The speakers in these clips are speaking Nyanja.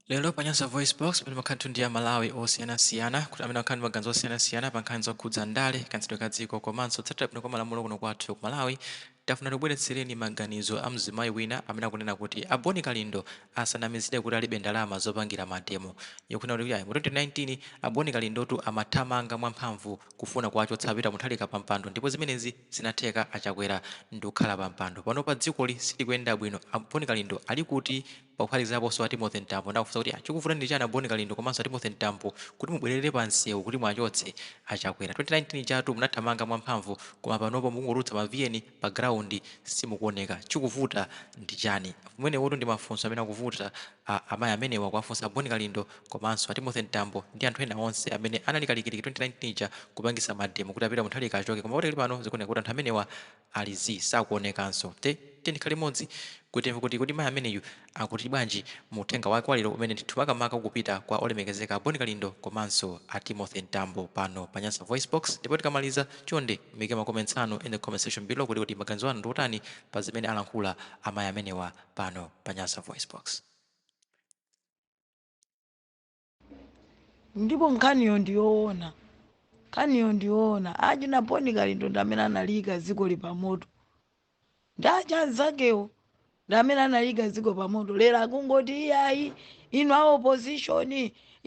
Lero pa Nyasa VoiceBox, pamene pakhala ndithu ndi Amalawi osiyanasiyana amene akhala ndi maganizo osiyanasiyana pa nkhani zokhudza ndale, kayendetsedwe ka dziko komanso kutsatira bwino kwa malamulo kuno kwathu ku Malawi, tafuna tikubweretsereni maganizo a mzimayi wina amene akunena kuti a Boni Kalindo asanamizidwe kuti alibe ndalama zopangira mademo. Iye akunena kuti ayi, mu 2019 a Boni Kalindotu amathamanga mwamphamvu kufuna kuwachotsa a Peter Mutharika pampando ndipo zimenezi zinatheka a Chakwera ndikukhala pampando. Panopa dzikoli silikuyenda bwino, a Boni Kalindo alikuti? Pophatikizaponso a Timothy Mtambo ndi kuwafunsa kuti chikuvuta ndi chani a Bon Kalindo komanso a Timothy Mtambo kuti mubwelere pa msewu kuti muwachotse a Chakwera. 2019 ijatu munathamanga mwa mphamvu koma panopo mukungotulutsa ma VN pa ground simukuoneka. Chikuvuta ndi chani? Amenewotu ndi mafunso amene akuvuta amai amenewa kuwafunsa a Bon Kalindo komanso a Timothy Mtambo ndi anthu ena onse amene anali kalikiliki 2019 ija kupangisa mademo kuti a Peter Mutharika achoke koma padakali pano zikuoneka kuti anthu amenewa Ali zii, sakuonekanso. Ndiye tiyeni tikhale limodzi kuti timve kuti kodi mai ameneyu akuti bwanji mu uthenga wake wa lero umene ndithu makamaka ukupita kwa olemekezeka a Bon Kalindo komanso a Timothy Mtambo pano pa Nyasa VoiceBox ndipo tikamaliza chonde muike ma comments anu in the comment section below kuti kodi maganizo anu ndi otani pa zimene alankhula amai amenewa pano pa Nyasa VoiceBox. ndipo nkhaniyo ndi yoona nkhaniyo ndi yoona achina boni kalindo ndi amene analiyika dzikoli pamoto ndi aja anzakewo ndi amene analiyika dziko pamoto lero akungoti iyayi inu a opposition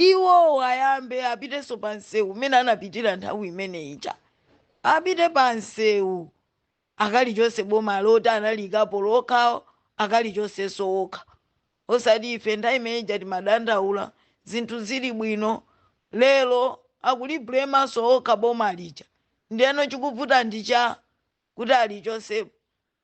iwowo ayambe apitenso pa msewu mmene anapitira nthawi imene ija apite pa msewu akalichotse boma loti analiikapo okhawo akalichotsenso okha osati ife nthawi imene ija timadandaula zinthu zili bwino lero akulibulemanso okha boma lija ndiyeno chikuvuta ndi chani kuti alichotsepo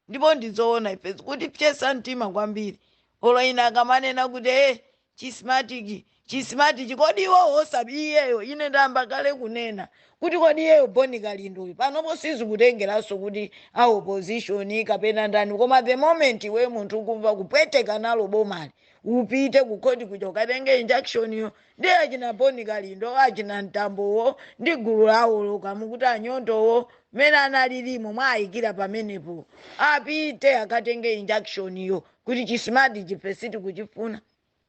ndipo ndizoona ife zikutipsetsa mtima kwambiri olo ena akamanena kuti e chi Smartmatic, chi Smartmatic kodi iwowo osap iyeyo ine ndayamba kale kunena kuti kodi iyeyo boni kalindo uyu panopo sizikutengeranso kuti a opposition kapena ndani koma the moment iwe munthu ukumva kupweteka nalo bomali upite kukhoti kuja ukatenge injunction yo ndi achina boni kalindo achina mtambowo ndi gulu lawo lomwe mukuti anyondowo amene analilimo mwawayikira pamenepo apite akatenge injunction yo kuti chi Smartmatic ife sitikuchifuna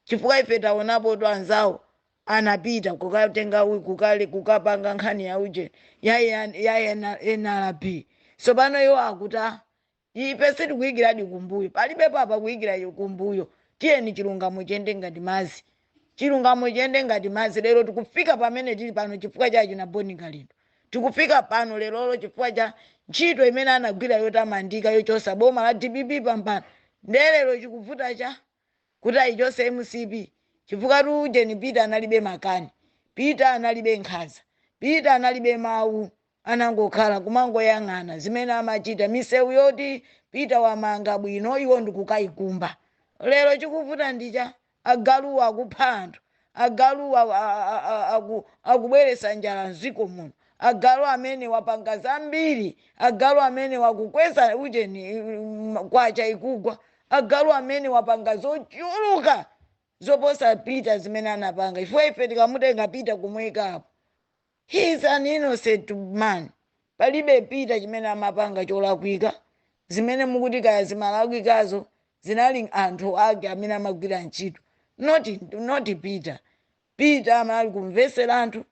chifukwa ife taonapotu anzawo anapita kukatenga u- kukale kukapanga nkhani ya uje ya, ya, ya ena- NRB tsopano iwo akutani ife sitikuyikiradi kumbuyo palibe apa akuyikira iwo kumbuyo tiyeni chilungamo chiyende ngati madzi Chilungamo chiyende ngati madzi. Lero tikufika pamene tili pano chifukwa cha achina Boni Kalindo. Tikufika pano lerolo chifukwa cha ntchito imene anagwira yotamandika yochotsa boma la dpp pampando. Ndiye lero chikuvuta cha kuti ayichotse mcp chifukwatu ujeni Peter analibe makani. Peter analibe nkhanza. Peter analibe mawu anangokhala kumangoyang'ana zimene amachita misewu yoti peter wamanga bwino iwo ndikukayikumba lero chikuvuta ndicha agaluwa akupha anthu agaluwa a- a- a- a- aku- akubweretsa njala mziko muno agalu amene wapanga zambiri agalu amene wakukweza ujeni mm, kwacha ikugwa agalu amene wapanga zochuluka zoposa peter zimene anapanga chifukwa ife tikamutenga peter kumuyikapo He is an innocent man. Palibe Peter chimene amapanga cholakwika. Zimene mukuti kaya zimalakwikazo zinali anthu ake amene amagwira ntchito. Not, not Peter. Peter amali kumvetsera anthu.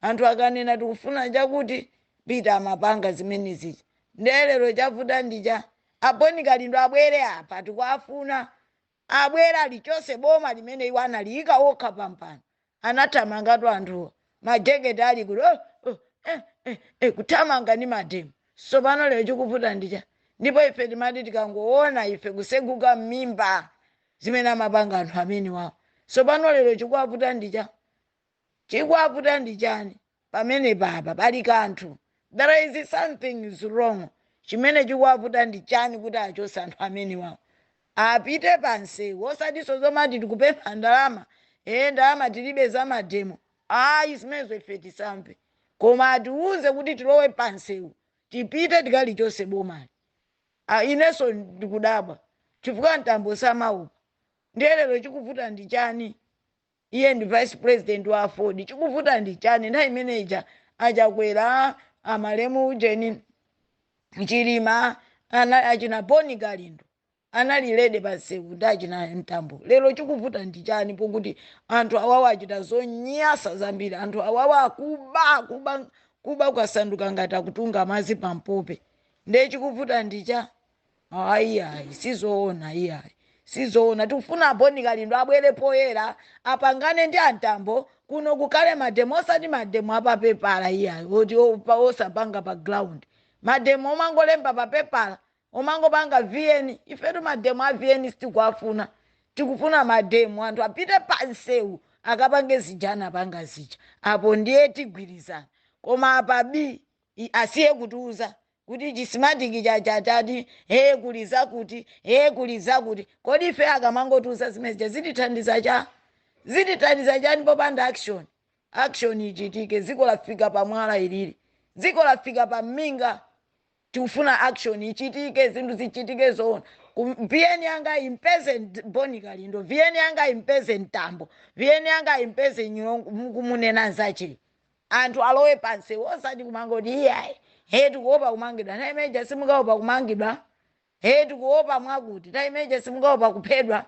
Anthu akanena tikufuna chakuti Peter amapanga zimene zija. Ndiye lero chavuta ndi cha. Aboni Kalindo abwere apa tikuwafuna. abwere alichose boma limene iwo analiyika okha pampando anathamangatu anthuwa majekete ali kuti oh, oh, eh, eh, eh, kuthamanga ndi mademo sopano lero chikuvuta ndicha ndipo ife timati tikangoona ife kuseguka mmimba zimene amapanga anthu amene wawo sopano lero chikuwavuta ndicha chikuwavuta ndichani pamenepa apa pali kanthu there is something is wrong chimene chikuwavuta ndi chani kuti achose anthu amenewawo apite pansewu osatiso zomati tikupempha ndalama ee ndalama tilibe za mademo ayi zimenezo ife tisamve koma atiwuze kuti tilowe pansewu tipite tikalichose bomali Ah, inenso ndikudabwa chifukwa mtambo samaopa ndiye lero chikuvuta ndi chani Iye ndi vice president wa aford chikuvuta ndi chani nthawi imene ija a chakwera a malemu ujeni chilima achina boni kalindo anali ready pa msewu ndi achina mtambo lero chikuvuta ndi chani pokuti anthu awawa achita zonyasa zambiri anthu awawa akuba kuba kuba kwasanduka ngati akutunga madzi pa mpope ndiye chikuvuta ndi cha ayi ayi sizoona iyayi sizoona tikufuna aboni kalindo abwere poyera apangane ndi a mtambo kuno kukhale mademo osati mademo apapepala iyayi oti opa- osapanga pa ground mademo omangolemba pa pepala omangopanga vn ifetu mademo a vn sitikuwafuna tikufuna mademo anthu apite pa nsewu akapange zija anapanga zija apo ndiye tigwirizana koma apo bi i- asiye kutiuza kuti chismatic chacha chati hee kuli zakuti hee kuli zakuti kodi ife akamangotiuza zimezija zitithandiza cha zitithandiza chani popanda action action ichitike dziko lafika pa mwala ilili dziko lafika pa minga tikufuna action ichitike zinthu zichitike zoona Ku- vn yanga impeze Nt- bon kalindo vn yanga impeze mtambo vn yanga impeze nyirongo mukumunena nzache anthu alowe pansewu osati kumangoti iyayi he tikuopa kumangidwa nthawi imeneja simukaopa kumangidwa he tikuopa mwakuti nthawi imeneja simukaopa kuphedwa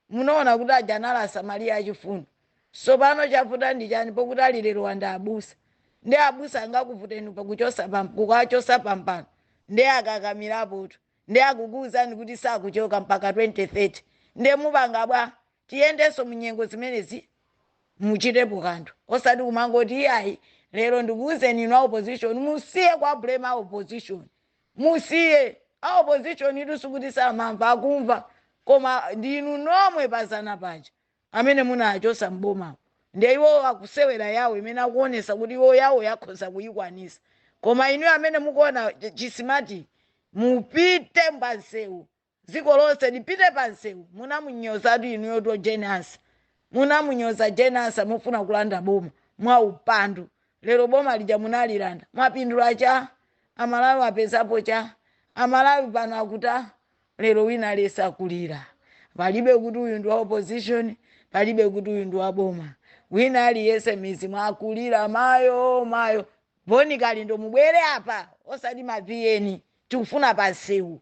munaona kuti aja anali asamariya achifundo sopano chavuta ndi chani pokuti ali lerowa ndi abusa nde abusa angakuvuteni pakuchosa pam- kukachosa pampando nde akakamirapotu nde akukuuzani kuti sakuchoka mpaka 2030 nde mupanga bwa tiyendenso mu nyengo zimenezi muchitepo kanthu osati kumangoti iyayi lero ndikuwuzeni inu a opposition musiye kuwa blame a opposition musiye a opposition itu sikuti samamva akumva koma ndi inu nomwe pazana paja amene munachosa m'bomamo ndiye iwowo akusewera yawo imene akuonesa kuti iwo yawo akhoza kuyikwanisa koma inu amene mukuona ch- chisimati mupite pansewu dziko lonse lipite pa msewu munamunyozatu inuyotu jane ansah munamunyoza jane ansah mufuna kulanda boma mwa upandu lero boma lija munalilanda mwapindula cha amalawi apezapo cha amalawi pano akuta lero wina aliyense akulira palibe kuti uyu ndi wa opposition palibe kuti uyu ndi wa boma wina aliyense mizimu akulira mayo mayo Bon kalindo mubwere apa osati ma vn tikufuna pansewu.